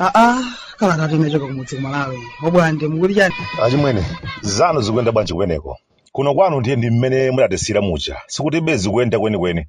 aa kala yathu imene yachoka kumudzi kumalawi obwande mukuti chani achimwene zanu zikuyenda bwanji kweneko kuno kwanu ndiye ndi mmene mudatisira muja sikuti be zikuyenda kwenikweni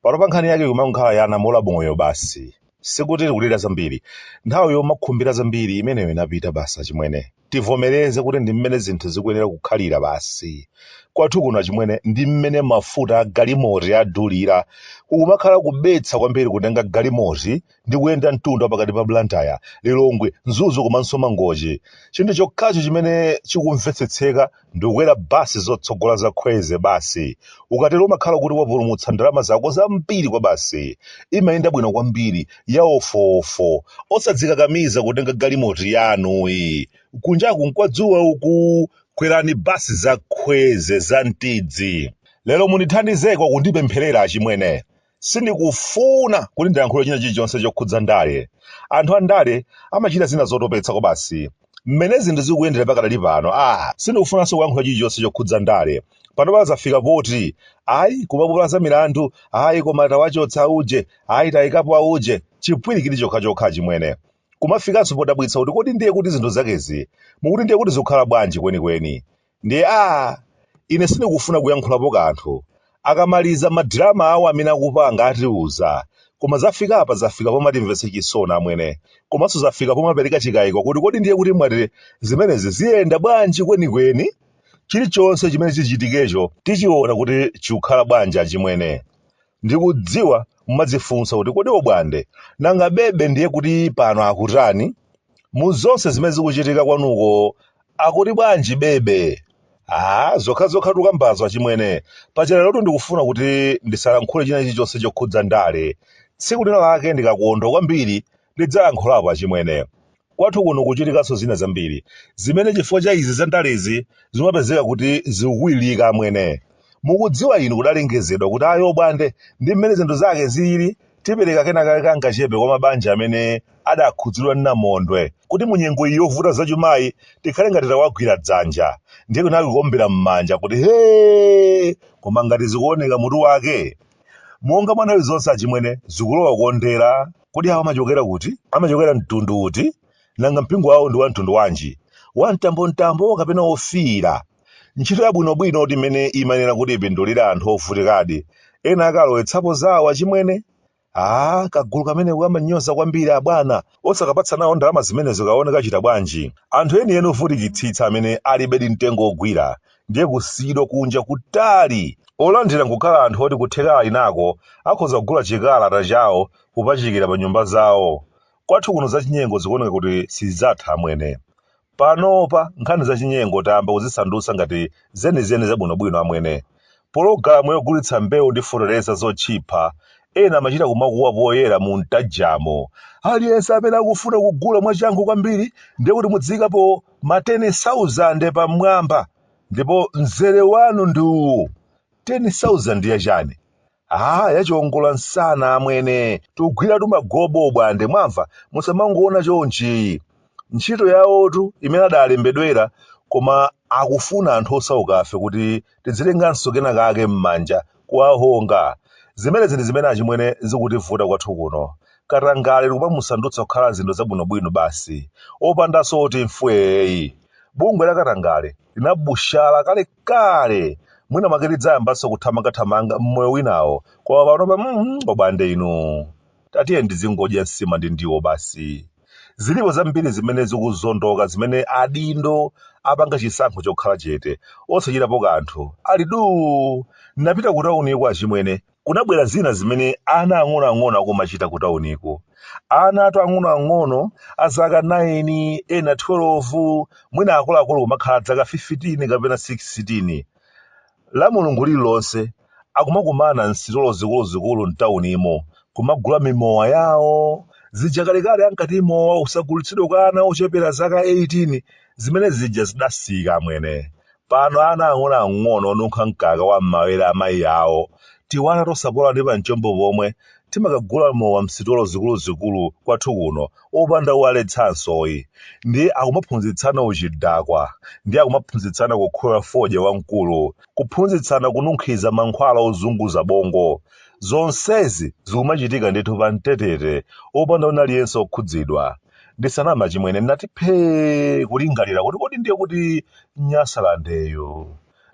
pano pa nkhani yake kumakhala bola moyo basi sikuti tikulira zambiri nthawi yomakhumbira zambiri imeneyo inapita basi achimwene tivomereze kuti ndi mmene zinthu zikuyenera kukhalira basi kwathu kuno achimwene ndi mmene mafuta a galimoti adulira kukumakhala kubetsa kwambiri kutenga galimoti ndi kuyenda mtunda pakati pa blantyre lilongwe mzuzu komanso mangochi chinthu chokhacho chimene chikumvetsetseka ndikukwera bus zotsogola za kwezy basi ukatero umakhala kuti wapulumutsa ndalama zako zambiri kwabasi imayenda bwino kwambiri ya ofofo osadzikakamiza kutenga galimoti yanuyi kunjaku nkwadzuwa uku kwerani basi za kwezy za mtidzi lero mundithandizeko kundipempherera achimwene Sindikufuna kuti ndilankhule china chilichonse chokhudza ndale. Anthu andale amachita zina zotopetsa kwabasi. Mmene zinthu zikuyendera pakadali pano, ah, sindikufunanso kulankhula chilichonse chokhudza ndale. Panopa zafika poti, ayi kuma apilo za milandu, ayi koma tawachotsa auje, ayi taikapo auje, chipwirikiti chokhachokha achimwene. Kumafikanso podabwitsa kuti kodi ndiye kuti zinthu zakezi mukuti ndiye kuti zikukhala bwanji kwenikweni? Ndiye aah ine sindikufuna kuyankhulapo kanthu. Akamaliza ma drama awo amene akupanga atiuza. Koma zafikapa zafika pomatimvetsa chisoni amwene. Komanso zafika pomapereka chikaiko kuti kodi ndiye kuti mwati zimenezi ziyenda bwanji kwenikweni? Chilichonse chimene chichitikecho tichiona kuti chikukhala bwanji achimwene. Ndikudziwa mumadzifunsa kuti kodi Obwande nanga Bebe ndiye kuti pano akutani? mu zonse zimene zikuchitika kwanuko akuti bwanji bebe aa zokhazokha tukambazo achimwene paja lerotu ndikufuna kuti ndisalankhule china chilichonse chokhudza ndale tsiku lina lake ndikakondwa kwambiri ndidzalankhulapo achimwene kwathu kuno kuchitikanso zina zambiri zimene chifukwa cha izi za ndalezi zimapezeka kuti zikukwilirika amwene mukudziwa inu kudalengezedwa kuti ayi obwande ndi mmene zinthu zake zilili Tipereka kenakake kangachepe kwa mabanja amene adakhudzidwa ndi namondwe kuti mu nyengo iyi yovuta zachumayi tikhale ngati tawagwira dzanja ndiye kunali kuombera m'manja kuti hee! Koma ngati zikuoneka mutu wake monga mwa nthawi zonse achimwene zikulowa kukondera. Kodi awa amachokera kuti? Amachokera mtundu uti? Nanga mpingo wawo ndi wa mtundu wanji? Wa mtambomtambo kapena wofiira? Ntchito yabwinobwino kuti imene imanena kuti ipindulire anthu ovutikadi, ena akalowetsapo zawo achimwene? Aaa kagulu kameneko kamanyoza kwambiri abwana, osakapatsa nawo ndalama zimenezo kaone kachita bwanji. Anthu enieni ovutikitsitsa amene alibedi mtengo ogwira ndiye kusiyidwa kunja kutali! Olandira nkukhala anthu oti kutheka ali nako akhoza kugula chikalata chawo kupachikira pa nyumba zawo. Kwathu kuno zachinyengo zikuoneka kuti sizidzatha amwene. Panopa nkhani zachinyengo tayamba kuzisandutsa ngati zenizeni zabwinobwino amwene. Pologalamu yogulitsa mbewu ndi feteleza zotchipha, ena amachita kumakuwa poyera mumtajamo, Aliyense amene akufuna kugula mwachangu kwambiri ndiye kuti mudziikapo ma teni sauzande pamwamba ndipo mzere wanu ndi uwu! Teni sauzande ya chani? Haa yachiongola nsana amwene tugwira tumagobo Bwande mwamva musamangoona chonchi ntchito yawotu imene adalembedwera koma akufuna anthu osaukafe kuti tidzilenganso kena kake mmanja kuwahonga zimenezi ndi zimene achimwene zikutivuta kwathu kuno katangale tikumamusandutsa kukhala zinthu zabwinobwino basi opandanso oti mfweeyi bungwe la katangale linabushala kale kale! Mwina mwake lidzayambanso kuthamangathamanga m'moyo winawo, koma panopa a Bwande inu. Tatiyeni tizingodya nsima ndi ndiwo basi. Zilipo zambiri zimene zikuzondoka zimene adindo apanga chisankho chokhala chete, osachitapo kanthu, ali duu! Nnapita kutauniko achimwene, kunabwera zina zimene ana ang'onoang'ono akumachita kutauniko. Anatu ang'onoang'ono a zaka 9, ena 12, mwina akuluakulu kumakhala zaka 15 kapena 16. La Mulungu lililonse akumakumana m'sitolo zikuluzikulu m'taunimo kumagula mimowa yawo. Zija kalekale ankati mowa usagulitsidwe kwa ana ochepera zaka 18. Zimene zija zidasiyika amwene. Pano ana ang'onoang'ono onunkha mkaka wa m'mawere a mayi awo, tiwana tosapola ndi pamchombo pomwe, timakagula mowa m'sitolo zikuluzikulu kwathu kuno opanda owaletsansoyi. Ndiye akumaphunzitsana uchidakwa. Ndiye akumaphunzitsana kukoka fodya wamkulu. Kuphunzitsana kununkhiza mankhwala ozunguza bongo. Zonsezi zikumachitika ndithu pambetete opanda wina aliyense okhudzidwa. Ndisaname achimwene ndinati phee kulingalira kuti kodi ndiye kuti Nyasalandeyo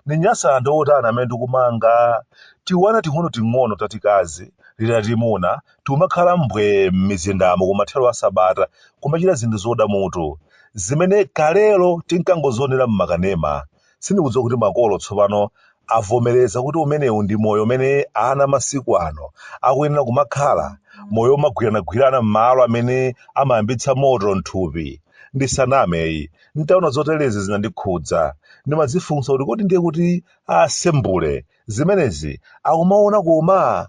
ndi Nyasalande wotani amene tikumanga? Tiwana ting'onoting'ono tatikazi ndi tatimuna tikumakhala mbwee m'mizindamo kumathero a sabata kumachita zinthu zoda mutu zimene kalelo tinkangozionera m'makanema Sindikudziwa kuti makolo tsopano avomereza kuti umenewu ndi moyo umene ana masiku ano akuyenera kumakhala, moyo womagwiranagwirana m'malo amene amayambitsa moto m'thupi. Ndisaname, n'taona zoterezi zinandikhudza. Ndimadzifunsa kuti kodi ndiye kuti a Sembule zimenezi akumaona koma?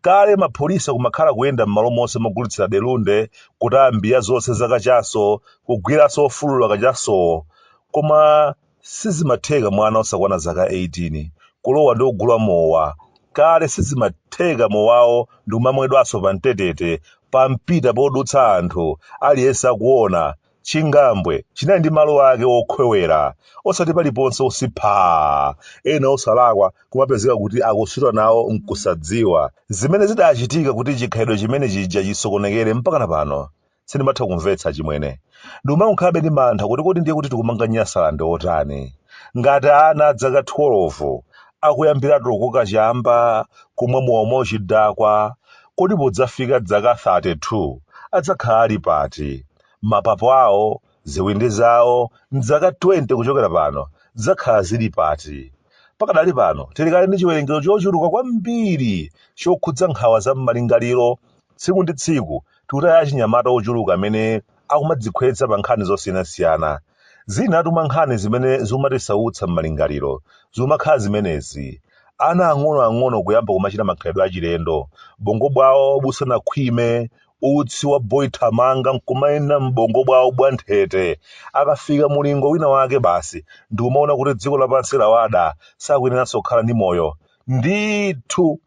kale mapolisi kumakhala kuyenda mmalo monse mogulitsira delunde kutaya mbiya zonse za kachaso kugwiranso ofulula kachasowo koma sizimatheka mwana osakwana zaka 18 kulowa ndi kugula mowa kale sizimatheka mowawo ndikumamwedwanso pamtetete pampita podutsa anthu aliyense akuona Chingambwe chinali ndi malo ake okhwewera osati paliponse utsi phaa! Ena osalakwa kumapezeka kuti akusuta nawo n'kusadziwa. Zimene zidachitika kuti chikhalidwe chimene chija chisokonekere mpakana pano sindimatha kumvetsa achimwene. Ndikumangokhalabe ndi mantha kuti kodi ndiye kuti tikumanga Nyasaland otani? Ngati ana a dzaka 12 akuyambiratu kukoka chamba, kumwa mowa mwauchidakwa, kodi podzafika dzaka 32 adzakhala ali pati? mapapo awo, ziwindi zawo, m'zaka 20 kuchokera pano, dzakhala zili pati? Pakadali pano, tili kale ndi chiwerengero chochuluka kwambiri chokhudza nkhawa za m'malingaliro. Tsiku ndi tsiku, tikutaya achinyamata ochuluka amene akumadzikhwetsa pa nkhani zosiyanasiyana. Zinatu mwa nkhani zimene zimatisautsa m'malingaliro zimakhala zimenezi. Ana ang'onoang'ono kuyamba kumachita makhalidwe achilendo bongo bwawo busanakhwime utsi wa boy thamanga nkumayenda m'bongo bwawo bwanthete akafika mulingo wina wake basi ndikumaona kuti dziko lapansi lawada sakuyeneranso kukhala ndi moyo ndithu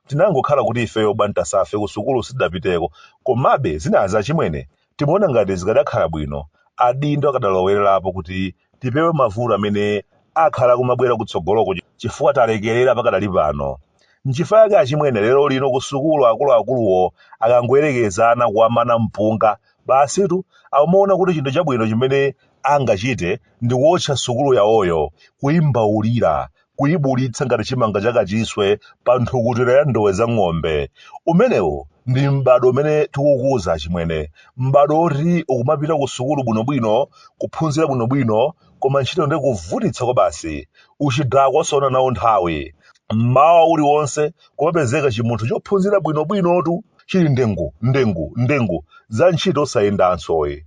tinangokhala kuti ifeyo bwantasafe kusukulu sitidapiteko komabe zinazi achimwene timaona ngati zikadakhala bwino adindo akadalowererapo kuti tipewe mavuto amene akhale akumabwera kutsogoloko chifukwa talekerera pakadali pano. Nchifukwa chake achimwene lero lino kusukulu akuluakuluwo akangoyerekeza ana kuwamana mpunga, basitu akumaona kuti chinthu chabwino chimene angachite ndi kuwotcha sukulu yawoyo, kuimbaulira, kuyibulitsa ngati chimanga cha kachiswe pa nthukutira ya ndowe za ng'ombe. Umenewu ndi m'bado umene tikukuza achimwene, m'bado oti ukumapita ku sukulu bwinobwino, kuphunzira bwinobwino, koma ntchito ndi kuvutitsa kwabasi. Uchidakwa osaona nawo nthawi. M'mawa uliwonse kumapezeka chimunthu chophunzira bwinobwinotu chili ndengu, ndengu, ndengu, za ntchito osayendansoyi.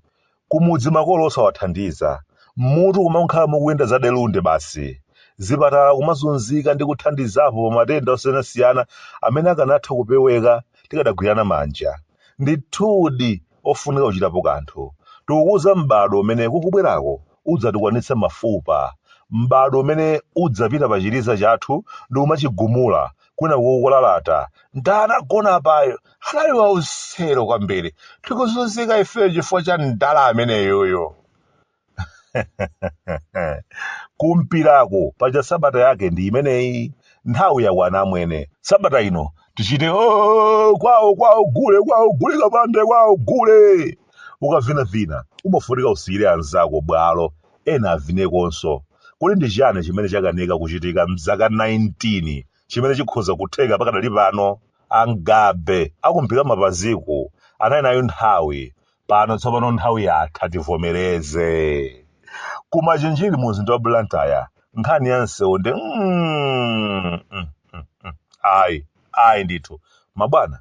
Kumudzi makolo osawathandiza, mmutu kumakhala mukuyenda za delunde basi. Zipatala kumazunzika ndi kuthandizapo pa matenda osiyanasiyana amene akanatha kupeweka tikadagwirana manja. Ndithudi ofunika kuchitapo kanthu. Tikukuza m'badwo umene ukubwerako udzatukwana mafupa. M'badwo umene udzapita pa chiliza chathu ndikumachigumula kwina kukulalata anagona apayo anali wausero kwambiri tikuzunzika ifeyo chifukwa cha mdala ameneyoyo kumpirako paja sabata yake ndi imeneyi nthawi yakwana amwene sabata ino tichite "Oh, kwawo kwawo gule kwawo gule kapande kwawo gule ukavinavina umafunika usiyire anzako bwalo ena avinekonso. Kodi ndi chiyani chimene chakanika kuchitika m'zaka 19 chimene chikhoza kutheka pakadali pano? A Mgabe akumpika mapaziku anali nayo nthawi. Pano tsopano nthawi yatha tivomereze. Ku Machinjiri mu mzinda wa Blantyre nkhani ya msewu ndi mm, mm, mm, mm. ayi ayi ndithu mabwana